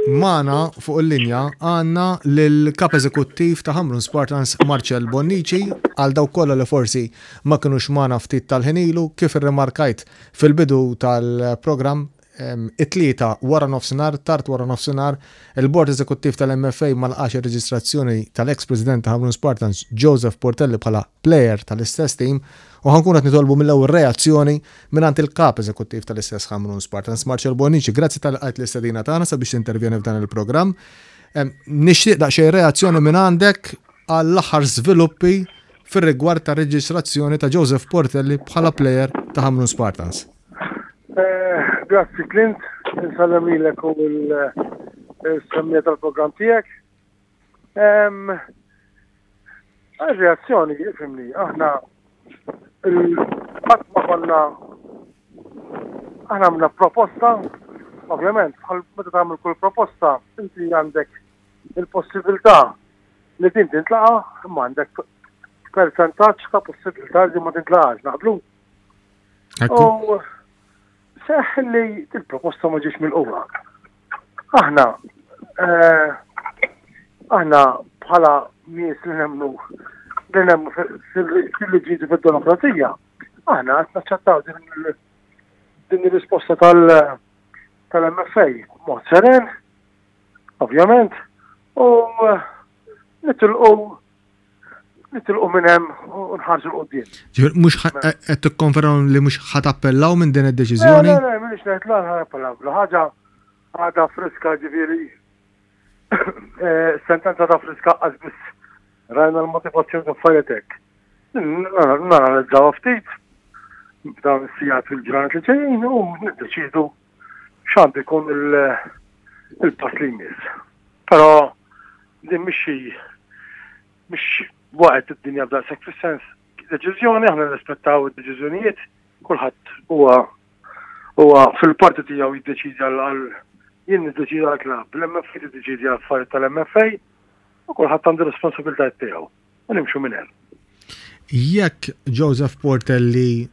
Magħna fuq il-linja għandna lill-Kap Eżekuttiv ta' Ħamrun Spartans, Marcel Bonnici. Għal dawk kollha li forsi ma kinux magħna ftit tal-ħin ilu, kif irrimarkajt fil-bidu tal-programm, it-Tlieta waranofsinhar, tard waranofsinhar, il-Bord Eżekuttiv tal-MFA ma lqax ir-reġistrazzjoni tal-eks President ta' Ħamrun Spartans, Joseph Portelli bħala plejer tal-istess tim u ħankun qed nitolbu mill-ewwel reazzjoni mingħand il-Kap Eżekuttiv tal-istess Ħamrun Spartans Marcel Bonnici. Grazzi tal qajt l-istedina tagħna sabiex tintervjeni f'dan il-programm. Nixtieq daqsxejn reazzjoni minn għandek għall-aħħar żviluppi fir-rigward ta' reġistrazzjoni ta' Joseph Portelli bħala plejer ta' Hamrun Spartans. Eh, grazzi Clint, nsallem lilek u l-semmija eh, tal-programm tiegħek. Għal-reazzjoni, jifimni, aħna il-fatt ma konna aħna għamna proposta, ovvjament, bħal meta tagħmel kull proposta, inti għandek il-possibilità li din tintlaqa, imma għandek percentaċ ta' possibilità li ma tintlaqax, naqblu. U seħ li il-proposta ma ġiex mill-qura. Aħna, eh, aħna bħala nies li nemmu li nemmu fil-liġi fil-demokrazija, aħna qed naċċettaw din ir-risposta tal-MFA mod seren, ovvjament, u eh, nitilqu nitilqu minn hemm u nħarsu l-qudiem. Mhux qed tikkonfermaw li mhux ħadd appellaw minn din id-deċiżjoni? Le, le, m'iniex ngħid l ħa appellaw. Bla ħaġa għadha friska ġifieri eh, sentenza ta' friska qas biss rajna l-motivazzjoni ta' fajetek. Naranizzaw ftit b'dawn is-sijat fil-ġranet li ġejjin u niddeċidu x'għandu jkun il-pass li jmiss. Però din mhix xi mhix waqgħet id-dinja daqshekk fis-sens deċiżjoni aħna nirrispettaw id-deċiżjonijiet kulħadd huwa huwa fil-parti tiegħu jiddeċidi għal jien niddeċidi għal klabb, l-MFA tiddeċidi għal affarijiet tal-MFA u kulħadd għandu responsabiltajiet tiegħu u nimxu minn hemm. Jekk Joseph Portelli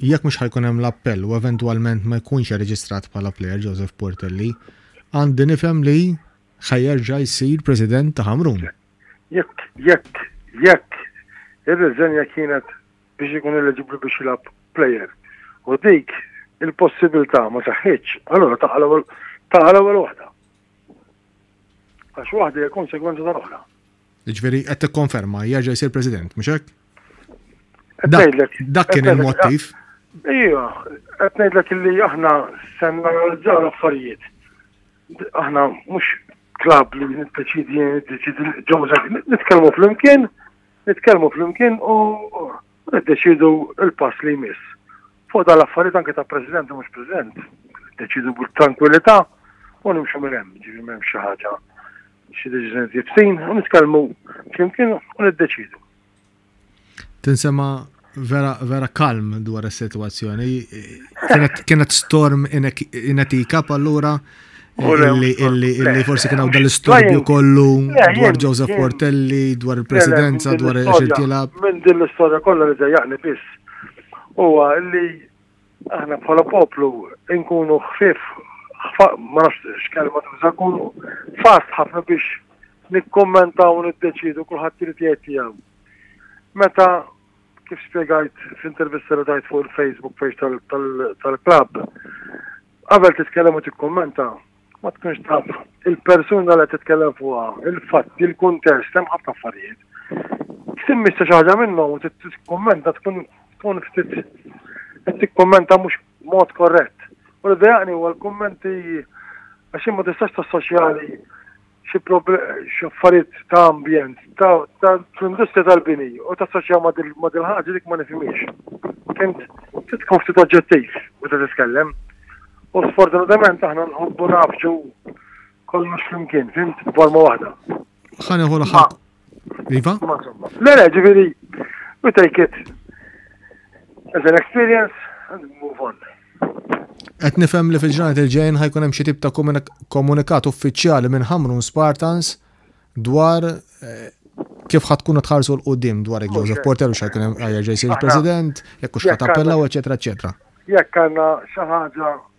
Jekk mhux ħa jkun hemm l-appell u eventwalment ma jkunx irreġistrat bħala plejer Joseph Portelli, għandi nifhem li ħa jerġa' jsir President ta' Ħamrun. Jekk, jekk, jekk ir-riżenja kienet biex ikun eleġibbli biex jilgħab plejer u dik il-possibilità ma seħħitx, allura taqa' l-ewwel taqa' l-ewwel waħda. Għax waħda hija konsegwenza tal-oħra. Jiġifieri qed tikkonferma jerġa' jsir President, mhux hekk? Dak kien il-mottiv. Ija, qed ngħidlek li aħna se nanalizzaw l-affarijiet. Aħna mhux klab li niddeċidi niddeċidi ġewżek, nitkellmu flimkien, nitkellmu flimkien u niddeċidu l-pass li jmiss. Fuq dan l-affarijiet anke ta' President u mhux President, deċidu b'trankwilità u nimxu minn hemm, ġifieri m'hemm xi ħaġa xi deċiżjoni jibsin u nitkellmu flimkien u niddeċidu. Tinsema vera, vera kalm dwar is-sitwazzjoni. Kienet storm inetika pallura illi forsi kien hawn dal-istorbju kollu dwar Joseph Portelli, dwar il-presidenza, dwar il-xirtilab. Minn din l-istorja kollha li dejjaqni biss. Huwa li Aħna bħala poplu nkunu ħfief, ma nafx x'kelma tuża, nkunu fast ħafna biex nikkummentaw u niddeċidu kulħadd irid jgħid tiegħu. Meta kif spjegajt f'intervista li tajt fuq il-Facebook page tal-klabb, qabel titkellem u tikkummenta, Ma tkunx taf il-persuna li qed titkellem fuqha, il-fatti, il-kuntest, hemm ħafna affarijiet. Timmissa xi ħaġa minnhom u tikkummenta tkun tkun ftit qed tikkummenta mhux mod korrett. U li dejaqni huwa l-kummenti għax ma tistax tassoċjali xi affarijiet ta' ambjent, ta' industrija tal-bini u ta' soċja ma' dil-ħaġa dik ma' nifimiex. Kent titkun ftit oġġettiv u ta' tiskellem. U sfortunatament aħna nħobbu nafġu kollox flimkien, fimt, forma waħda. Ħaneħu l-ħak. Iva? Ma insomma. Le, le, ġifieri, we take it as an experience and move on. Qed nifhem li fil-ġranet il-ġejn ħajkun hemm xi tip ta' komunikat uffiċjali minn Hamrun Spartans dwar eh, kif ħad tkunu tħarsu l-qoddim dwar il Joseph Porter u xajkun hemm għajja ġejsi il-President, jekk hux ħad appellaw, eċetera, eċetera. Jekk għandna xi ħaġa